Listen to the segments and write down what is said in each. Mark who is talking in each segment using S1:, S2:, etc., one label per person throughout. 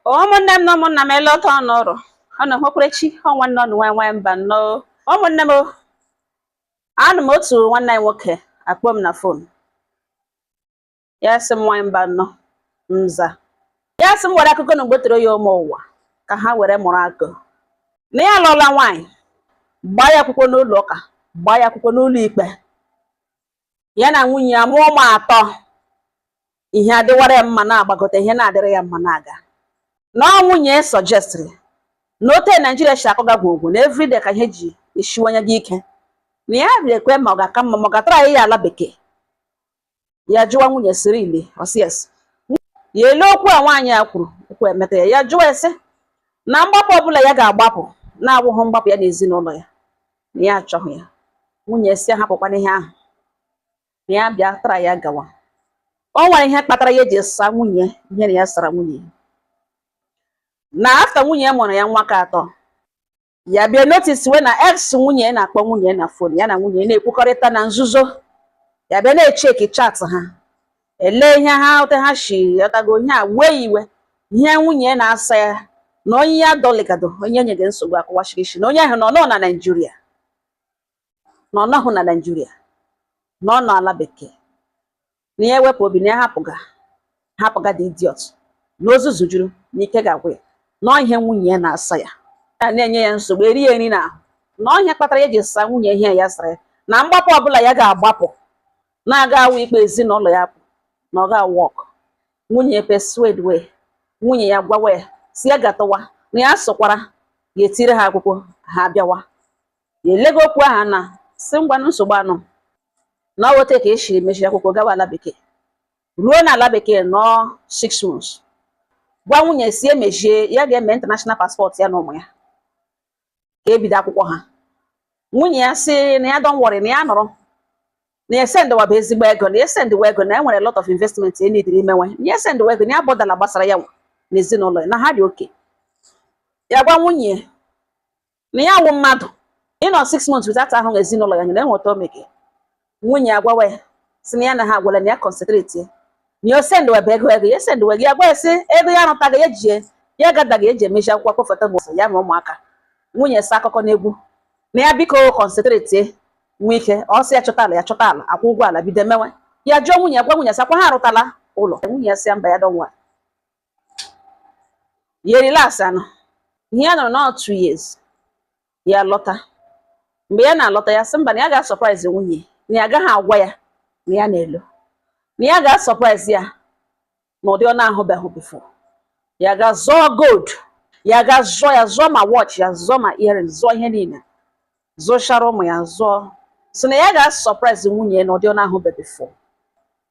S1: ụmụnne m na ụmụnna m eleta ọnụ ụrụ ọnụ nwekwara chi ọ nwanne ọnụ nwanyị nwanyị mbanọ ụmụnne m anọ m otu nwanne anyị nwoke akpọ m na fon ya sị m nwanyị mbanọ m za ya sị m were akụkọ na m gbotere ya ụmụ ụwa ka ha were mụrụ akọ na ya alụọla nwaanyị gbaa ya akwụkwọ n'ụlọ ụka gbaa ya akwụkwọ n'ụlọ ikpe ya na nwunye ya mụọ ụmụ atọ ihe adịwara ya mma na-agbagote ihe na-adịrị ya mma na-aga na ọ nwunye sọjestịrị na ote naijiria si akọga gwogwo na everyday ka ihe ji esiwanye gị ike na ya riri ekwe ma ọ ga-aka mma ma ọ gatara ya ala bekee ya jụwa nwunye sị really ọ sị yes ya ele okwu a nwaanyị a kwuru okwu emeta ya ya jụwa ese na mgbapụ ọbụla ya ga-agbapụ na-awụghị mgbapụ ya na ezinụlọ ya na ya achọghị ya nwunye si ya hapụkwana ihe ahụ na ya bịa tara ya gawa o nwere ihe kpatara ya ji saa nwunye ihe na ya sara nwunye na afta nwunye mụrụ ya nwa ka atọ ya bịa notiswe na ex nwunye na-akpọ nwunye na fon ya na nwunye na-ekwukọrịta na nzuzo ya bịa na-echeki chat ha ele ihe ha ote ha si ghọtago ihe a wee iwe ihe nwunye na-asa ya na onye ya dọligado onye nye gị nsogbu akụwachiri isi na onye ahụ nọ nọ na naijiria na ọ nọghị na naijiria na ọ nọ ala bekee na ya wepụ obi na ya hapụga hapụga dị idiot na ozuzu juru na ike ga-agwụ ya na ihe nwunye ya na-asa ya ya na-enye ya nsogbu eri ya nri n'ahụ na ọ ihe kpatara ya ji saa nwunye ihe ya sara ya na mgbapụ ọbụla ya ga-agbapụ na-agahụ ịkpọ ezinụlọ ya pụọ na ọ gahụ wọk nwunye persuadewe nwunye ya gwawa ya si ya gatawa na ya sọkwara ya etire ha akwụkwọ ha bịawa ya elega okwu ahụ anya si ngwanụ nsogbu anụ na ọ wụ ote ka e siri mechie akwụkwọ gawa ala bekee ruo na ala bekee nọọ six months gwa nwunye si emechie ya ga-eme international passport ya na ụmụ ya ka e bido akwụkwọ ha nwunye ya sị na ya don't worry na ya nọrọ na ya sendịwa bụ ezigbo ego na ya sendịwa ego na e nwere lot of investment e nidiri imewe na ya sendịwa ego na ya bọdala gbasara ya nwa na ezinụlọ ya na ha dị okay ya gwa nwunye na ya wụ mmadụ ịnọ six months without ahụ ezinụlọ ya nyere enweta omege nwunye ya gwawa ya si na ya na ha agwala na ya kọnsentreti ya na ya sendịwa bụ ego ego ya esendịwa gị ya gwa ya sị ego ya arụtaga ya jie ya gadaghị eji emechi akwụkwọ akpọfụta bụ ya na ụmụaka nwunye sị ya akụkọ n'egwu na ya biko kọnsentreti nwe ike ọ sị ya chọta ala ya chọta ala akwụ ụgwọ ala bido mewe ya jụọ nwunye ya gwa nwunye sị ọ kwa ha arụtala ụlọ nwunye ya sị ya mba ya dọnwa ya relax anọ ihe ya nọrọ nọọ two years ya lọta mgbe ya na-alọta ya sị mba na ya ga-asurprise nwunye na ya agaghị agwa ya na ya na-elo na ya ga-asurprise ya na ụdị ọ na-ahụbeghị before ya ga zụọ gold ya ga zụọ ya zụọ ma watch ya zụọ ma earring zụọ ihe niile zụchara ụmụ ya zụọ so na ya ga-asurprise nwunye na ụdị ọ na-ahụbeghị before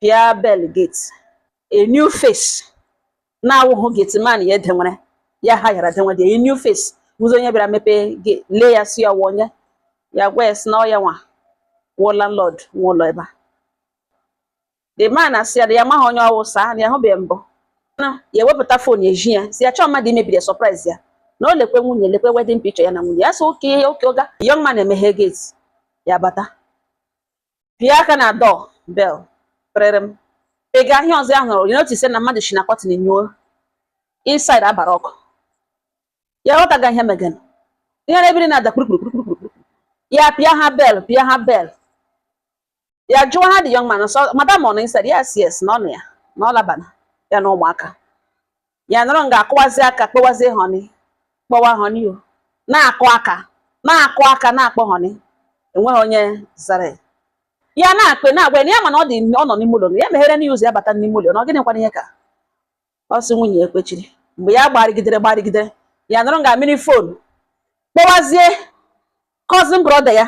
S1: pịa bell gate a new face na-awụghụ gateman ya edenwere ya hayara denwe dị a new face ọzọ onye bịara mepee lee ya si ya wụ onye ya gwa ya si na ọ ya nwa wụ landlord nwe ụlọ ebe a the man asị ya ya amaghị onye ọ wụ sir na ya hụbeghị mbụ na ya ewepụta fon eji ya si ya achọọ mmadụ imebiri surprise ya na o lekwe nwunye lekwe wedding picture ya na nwunye ya sị okay okay oga young man emeghe gate ya bata pịa aka na door bell kpịrịrịm ị ga ahịa ọzọ ya nọrọ notice na mmadụ si na curtain nyuo inside agbara ọkụ ya ghọtaga ihe megan ihe na-ebiri na-ada kpurukpurukpurukpuru ya pịa ha bell pịa ha bell ya jụọ ha the young man madam ọ nọ inside yes yes na ọ nọ ya na ọ labana ya na ụmụaka ya nọrọ nga a kụwazi aka kpọwazi horn kpọwa horn ọ na-akụ aka na-akụ aka na-akpọ horn enweghị onye zara ya. ya na-akpe na-agwa ya na ya ma na ọ dị ọ nọ n'ime ụlọ ya megherenụ ya ụzọ ya bata n'ime ụlọ na ọ gịnị kwana ihe ka ọ sị nwunye ya ekwechiri mgbe ya gbarịgidere gbarịgidere ya nọrọ nga a mịrị fon kpọwazie cousin brother ya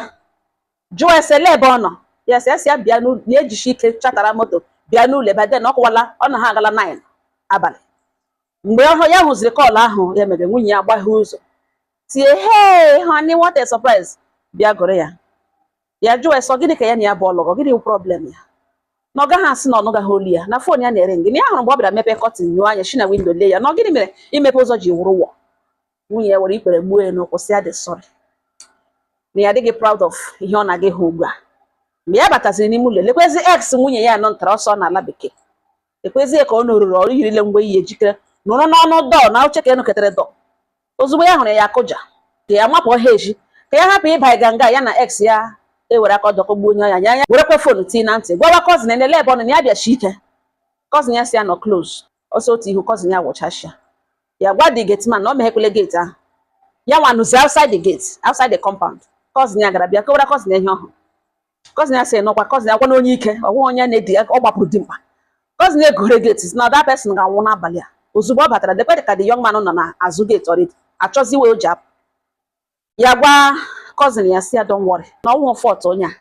S1: jụọ ese ele ebe ọ nọ ya sị asị ya bịa n'ụlọ ya ejichi ike chatara moto bịa n'ụlọ by then ọ kụwala ọ na ha agala 9 abalị mgbe ọhụ ya hụziri call ahụ ya mere nwunye ya agbaghe ụzọ tie hey honey what a surprise bịa gụrụ ya ya jụọ ese ọ gịnị ka ya na ya bụ ọlụgọ gịnị bụ problem ya na ọ gaghị asị na ọ nụgaghị olu ya na fon ya na-eringị na ya hụrụ mgbe ọ bịara mepe curtain nyuo anya shi na window lee ya na ọ gịnị mere imepe ụzọ ji wụrụ war nwunye ya were ikpere gbuo ya n'ụkwụ sị ya dị sorry na ya adịghị proud of ihe ọ na-aga ahụ ugbu a mgbe ya bataziri n'ime ụlọ lekwezi ex nwunye ya anọ ntara ọsọ n'ala bekee lekwezie ka ọ nọrụrụ ọrụ yirile mgbe ihe ejikere nụrụ n'ọnụ dọọ na oche ka enụketere dọọ ozugbo ya hụrụ ya akụja ka ya mapụ ọha eji ka ya hapụ ịba ịga nga ya na ex ya ewere aka ọdọkọ gbuo onye ọnya ya ya werekwa fon tii na ntị gwawa cousin na ele ebe ọ nọ na ya bịachi ike cousin ya sị ya nọ close ọsọ otu ihu cousin ya wụchasịa ya gwa the gate man na ọ meghekwele gate ahụ ya nwa nọzi outside the gate outside the compound cousin ya gara bịa kọwara cousin ya ihe ọ hụrụ cousin ya sị nọkwa cousin ya gwa na onye ike ọ wụghị onye na-edi ọ gbapụrụ dimkpa cousin ya egore gate na that person ga-anwụ n'abalị a ozugbo ọ batara lekwe ka the young man nọ na azụ gate already achọzi way o ji apụ ya gwa cousin ya si ya don't worry na ọ wụụ fault onye a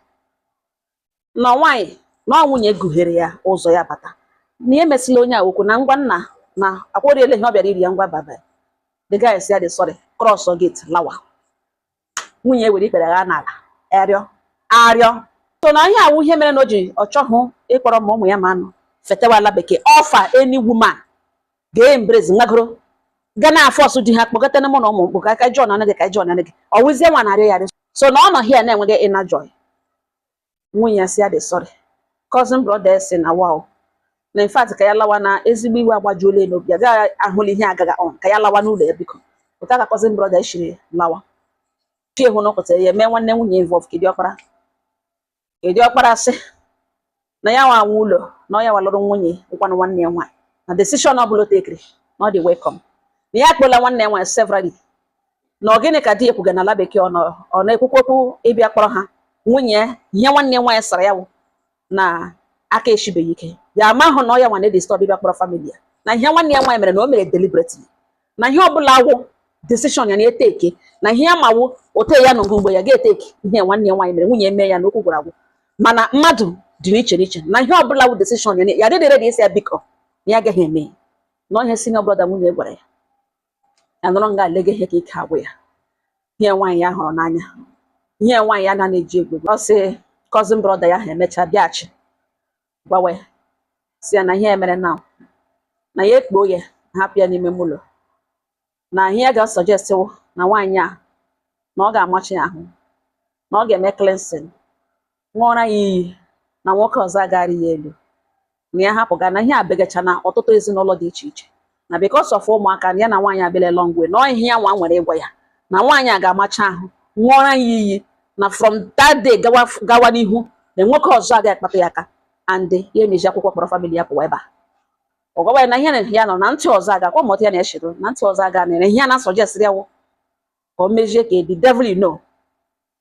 S1: na nwaanyị na ọ nwunye guhere ya ụzọ ya bata na ya emesịla onye a okwu na ngwa nna na akwụrịela ihe ọ bịara iri ya ngwa baba the guy si ya dị sorry cross gate lawa nwunye were ikpere gha n'ala arịọ arịọ so na ihe a wụ ihe mere na o ji ọ chọghụ ịkpọrọ ma ụmụ ya ma anụ fetewa ala bekee ọfa any woman ga-embrace ngagoro ga na-aforce di ha kpọkọta na mụ na ụmụ mkpụ ka aka jọn anụ gị ka jọn anụ gị ọwụzie nwa narị ya so na ọ nọ here na-enweghị inner joy nwunye ya si ya dị sorry cousin brother si na wow na in fact ka ya lawa na ezigbo iwe agbajuola ya n'obi ya gaghị ahụla ihe agaga on ka ya lawa n'ụlọ ya biko pụta ka cousin brother shiri lawa chi hụ nọkọtara ya mee nwanne nwunye involve ke diọkpara ke diọkpara sị na ya nwa nwe ụlọ na ọ ya nwa lụrụ nwunye wụkwanụ nwanne ya nwaanyị na decision ọ bụla o tekiri na ọ dị welcome na ya akpọla nwanne ya nwaanyị severally na ọ gịnị ka di ya kwuga n'ala bekee ọ nọ- ọ na-ekwukwa okwu ịbịa kpọrọ ha nwunye ya ihe nwanne nwaanyị sara ya wụ na aka eshibeghị ike ya amahụ na ọ ya nwa na-edisturb ịbịa kpọrọ family ya na ihe nwanne ya nwaanyị mere na o mere deliberately na ihe ọbụla wụ decision ya na-eteke na ihe ya ma wụ ote ya nụgo mgbe ya ga-eteke ihe nwanne ya nwaanyị mere nwunye mee ya na okwu gwụrụ agwụ mana mmadụ dị n'iche n'iche na ihe ọbụla wụ decision ya na- ya dịdị ready ịsị ya biko na ya agaghị eme ya na ọ ihe senior brother nwunye gwara ya ya nọrọ nga a lege ihe ka ike agwụ ya ihe nwaanyị ya hụrụ n'anya ihe nwaanyị ya na-ana eji egwu egwu. ọ sị cousin brother ya ha emechaa bịaghachi gwawa ya si ya na ihe ya mere na na ya ekpuo ya hapụ ya n'ime ụlọ na ihe ya ga-asuggest wụ na nwaanyị a na ọ ga-amachi ya ahụ na ọ ga-eme cleansing ṅụọra ya iyi na nwoke ọzọ aga arị ya elu na ya hapụ ga na ihe abegacha na ọtụtụ ezinụlọ dị iche iche na because of ụmụaka na ya na nwaanyị abịala long way na ihe ya nwa nwere ịgwa ya na nwaanyị a ga-amacha ahụ ṅụọra ya iyi na from that day gawa gawa n'ihu na nwoke ọzọ agaghị akpatụ ya aka and ya emejie akwụkwọ kpọrọ family ya pụwa ebe a ọ gwawa ya na ihe na ya nọ na ntị ọzọ aga kwa mọta ya na-echiro na ntị ọzọ aga na ihe ya na-asuggestịrị ya wụ ka o mezie ka the devil you know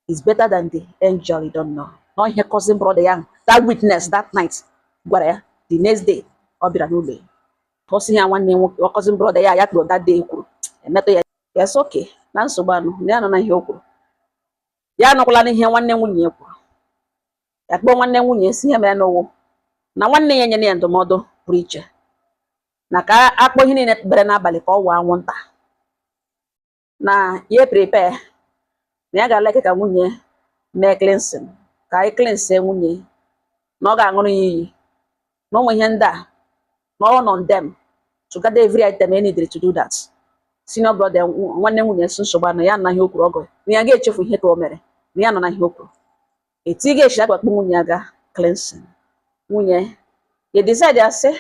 S1: is better than the angel you don't know na ihe cousin brother ya that witness that night gwara ya the next day ọ bịara n'ụlọ ya ka ọ sị ya nwanne nwoke cousin brother ya ya kpọrọ that day kwuru emetụ ya ya sị okay na nsogbu anọ na ya anụna ihe o kwuru ya anụkwala ihe nwanne nwunye ya kwuru ya kpọọ nwanne nwunye si ihe merenụ wụ na nwanne ya nyere ya ndụmọdụ pụrụ iche na ka a kpọọ ihe niile bere n'abalị ka ọ wụọ anwụnta na ya prepare na ya ga-alike ka nwunye mee cleansing ka anyị cleanse nwunye na ọ ga-aṅụrụ ya iyi na ụmụ ihe ndị a na ọ nọ on them to gather every item e needed to do that senior brother nwanne nwunye si nsogbu anọ ya anụna ihe o kwuru ọgọ na ya ga-echefu ihe ka o mere na ya anụna ihe o kwuru etu ị ga-esi agbakpọ nwunye ya gaa cleansing nwunye ya decide ya sị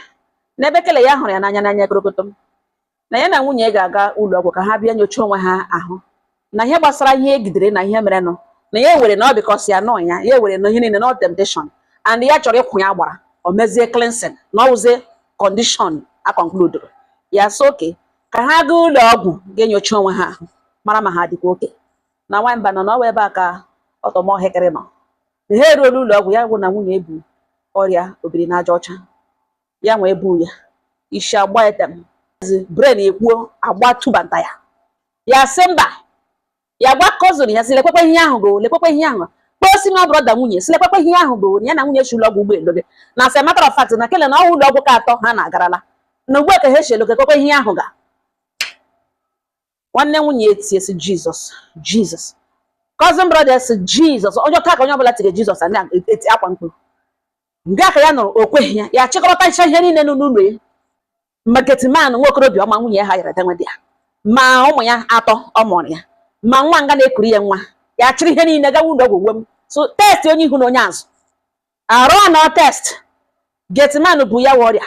S1: n'ebe kele ya hụrụ ya n'anya korokotom na ya na nwunye ya ga-aga ụlọ ọgwụ ka ha bịa nyochaa onwe ha ahụ na ihe gbasara ihe egidere na ihe merenụ na ya ewere na ọ because ya nọ ya ya ewere na ihe niile na ọ temptation and ya chọrọ ịkwụ ya gbara o mezie cleansing na ọ wụzie condition a concludere ya sị okay ka ha gaa ụlọ ọgwụ gaa nyochaa onwe ha ahụ mara ma ha dịkwa okay na nwamba na ọ wụ ebe a ka ọtọmọhịkịrị nọ ha eruola ụlọ ọgwụ ya wụ na nwunye ya bu ọrịa obiri n'aja ọcha ya nwa ebu ya isi agba etem brain ekwuo agba tubanta ya ya sị mba ya gwa cousin ya sị lekwekwe ihe ahụ go lekwekwe ihe ahụ kpọọ senior brother nwunye ya sị lekwekwe ihe ahụ go ya na nwunye si ụlọ ọgwụ ụgbọelu gị na as a matter of fact na kele na ọ wụ ụlọ ọgwụ ke atọ ha na-agarala na ugbu a ka ha sị lekwekwe ihe ahụ ga nwanne nwunye ya etie sị jizọs jizọs cousin brother sị jizọs onye ọta ka onye ọbụla tige jizọs a na-etiakwa mkpu nga ka ya nọrọ o kweghị ya ya chịkọrọta ncha ihe niile nọ n'ụlọ ya ma gateman nwa okorobịa ọma nwunye ya hayara danwe dị ya ma ụmụ ya atọ ọ mụụrụ ya ma nwa nga na-ekuru ya nwa ya chịrị ihe niile gawa ụlọ ọgwụ uwe m so test onye ihu na onye azụ arụ anọ test gateman bu ya wa ọrịa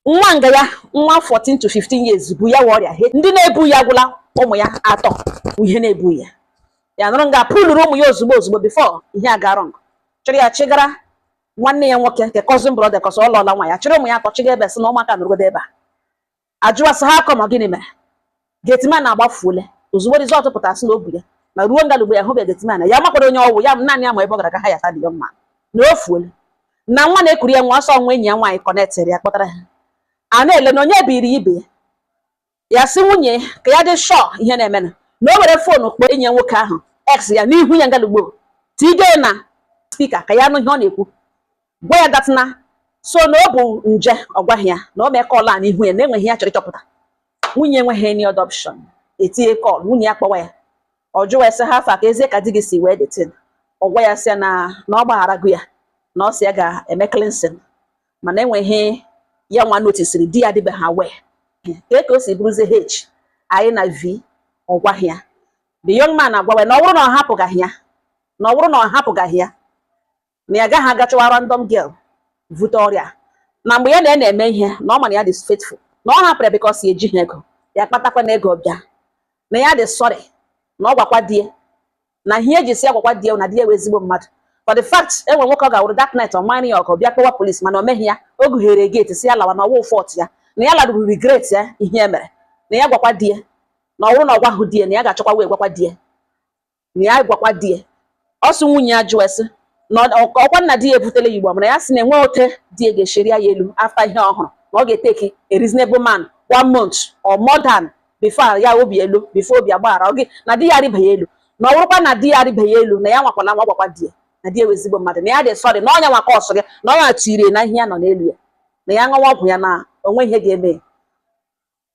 S1: nwa nga ya nwa 14 to 15 years bu ya wa ọrịa ndị na-ebughị ya gwụla ụmụ ya atọ ihe na-ebughị ya ya nọrọ nga pụlụrụ ụmụ ya ozugbo ozugbo before ihe aga wrong chịrị ya chịgara nwanne ya nwoke nke cousin brother cos ọ lụọla nwaanyị chịrị ụmụ ya atọ chịga ebe sị na ụmụaka nọrọgodo ebe a ajụwa sị ha akọ ma gịnị mere Gateman agbafuole ozugbo result pụtara sị na o bu ya na ruo ngalugbo ya ahụbeghị Gateman ya makwara onye ọwụ ya naanị ya ma ebe ọ gara ka ha yata dị mma na o fuole na nwa na-ekuru ya nwa ọ sị ọ wụ enyi ya nwaanyị connectịrị ya kpọtara ha a na-ele na onye biri ibe ya ya sị nwunye ka ya dị sure ihe na-emenụ na o were phone kpọọ enyi ya nwoke ahụ ex ya n'ihu ya ngalugbo tige na speaker ka ya nụ ihe ọ na-ekwu gwa ya datịna so na ọ bụ nje ọ gwaghị ya na o mee call a n'ihu ya na enwere ihe ya chọrọ ịchọpụta nwunye enweghị any other option etinye call nwunye ya kpọwa ya ọ jụwa ya sị how far kezi ka di gị si were the thing ọ gwa ya sị ya na na ọ gbagharago ya na ọ sị ya ga-eme cleansing mana enwere ihe ya nwa noticiri di ya adịbeghị aware ka e ka o si bụrụzie HIV ọ gwaghị ya the young man agwawa ya na ọ bụrụ na ọ hapụgaghị ya na ọ bụrụ na ọ hapụgaghị ya na ya agaghị aga chọwa random girl vute ọrịa na mgbe ya na ya na-eme ihe na ọ ma na ya dị faithful na ọ hapụrụ ya because ya ejighị ego ya kpatakwa na ego bịa na ya dị sorry na ọ gwakwa di ya na ihe o ji sị ya gwakwa di ya na di ya wụ ezigbo mmadụ for the fact enwe nwoke ọ ga-awụrụ that night ọ mara ya ọgụ bịa kpọwa police mana o meghị ya o gughere gate sị ya lawa na ọwụ fault ya na ya laruru regret ya ihe e mere na ya gwakwa di ya na ọ wụrụ na ọ gwahụ di ya na ya ga-achọkwa wee gwakwa di ya na ya gwakwa di ya ọ sị nwunye ya jụọ sị na ọ- ka ọkwa nna di ya ebutela ya igbo mana ya sị na enwe ote di ya ga-eshi rịa ya elu after ihe ọ hụrụ na ọ ga-eteki a reasonable man one month or more than before ya obi elu before obi agbaghara ọ gị na di ya arịba ya elu na ọ bụrụkwa na di ya arịba ya elu na ya nwakwala nwa gwakwa di ya na di ya wụ ezigbo mmadụ na ya dị sorry na ọnya nwa ka ọsọ gị na ọnya tirie na ihe ya nọ n'elu ya na ya ṅụwa ọgwụ ya na o nwe ihe ga-eme ya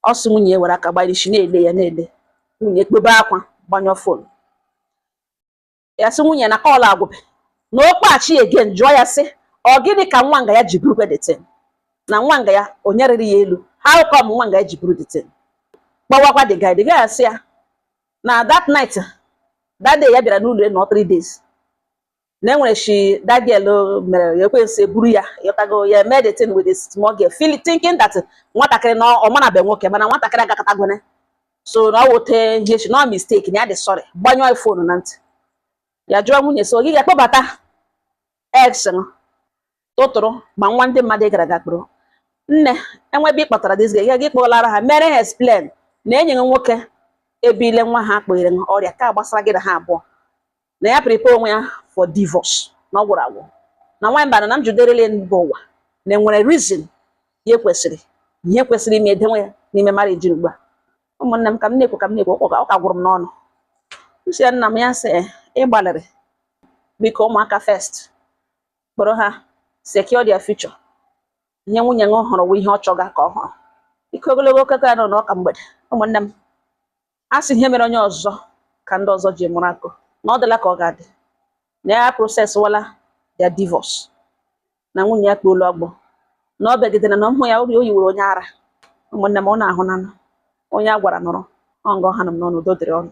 S1: ọ sị nwunye ya were aka gbara isi na-ele ya na-ele nwunye ekpebe akwa gbanyụọ fon ya sị nwunye na call agwụbe na ọ kpọghachi again jụọ ya sị ọ gịnị ka nwa nga ya ji buru the thing na nwa nga ya onye rịrị ya elu how come nwa nga ya ji buru the thing kpọwakwa the guy the guy asị ya na that night that day ya bịara n'ụlọ nọ three days na enwere shi that girl o mere ya ekwensu eburu ya ịghọtago ya eme the thing with a small girl feel thinking that nwatakịrị na ọ marabe nwoke mana nwatakịrị agakatagwone so na ọ wụ ote ihe shi na ọ mistake na ya dị sorry gbanyụọ ya fonu na ntị ya jụọ nwunye so gị ga-akpọbata ex m tụtụrụ ma nwa ndị mmadụ ị gara aga kpụrụ nne enwebe ị kpọtara dịzi gị gị kpọlara ha mere ha explain na enyi gị nwoke ebile nwa ha kpụnyere ha ọrịa ka gbasara gị na ha abụọ na ya prepare onwe ya for divorce na ọ gwụrụ agwụ na nwaanyị bara na m juderele mba ụwa na enwere reason ihe kwesịrị ihe kwesịrị ime edewe ya n'ime marriage ugbu a ụmụnne m ka m na-ekwu ka m na-ekwu ọ ka- ọ ka gwụrụ m n'ọnụ m sị ya nna m ya sị "Eh, ị gbalịrị biko ụmụaka first kpọrọ ha secure their future ihe nwunye m hụrụ wụ ihe ọ chọga ka ọ hụrụ ikwu ogologo okwu anọ n'ụka mgbede ụmụnne m a sị ihe mere onye ọzọ ka ndị ọzọ ji mụrụ akọ na ọ dịla ka ọ ga-adị na ya processwala their divorce na nwunye ya kpuolu ọgbọ na o begidere na ụmụ ya obi o yiwere onye ara ụmụnne m ọ na-awụ nanụ onye a gwara nụrụ ọ nga ọ hanụ m n'ọnụ udo dịrị ụnụ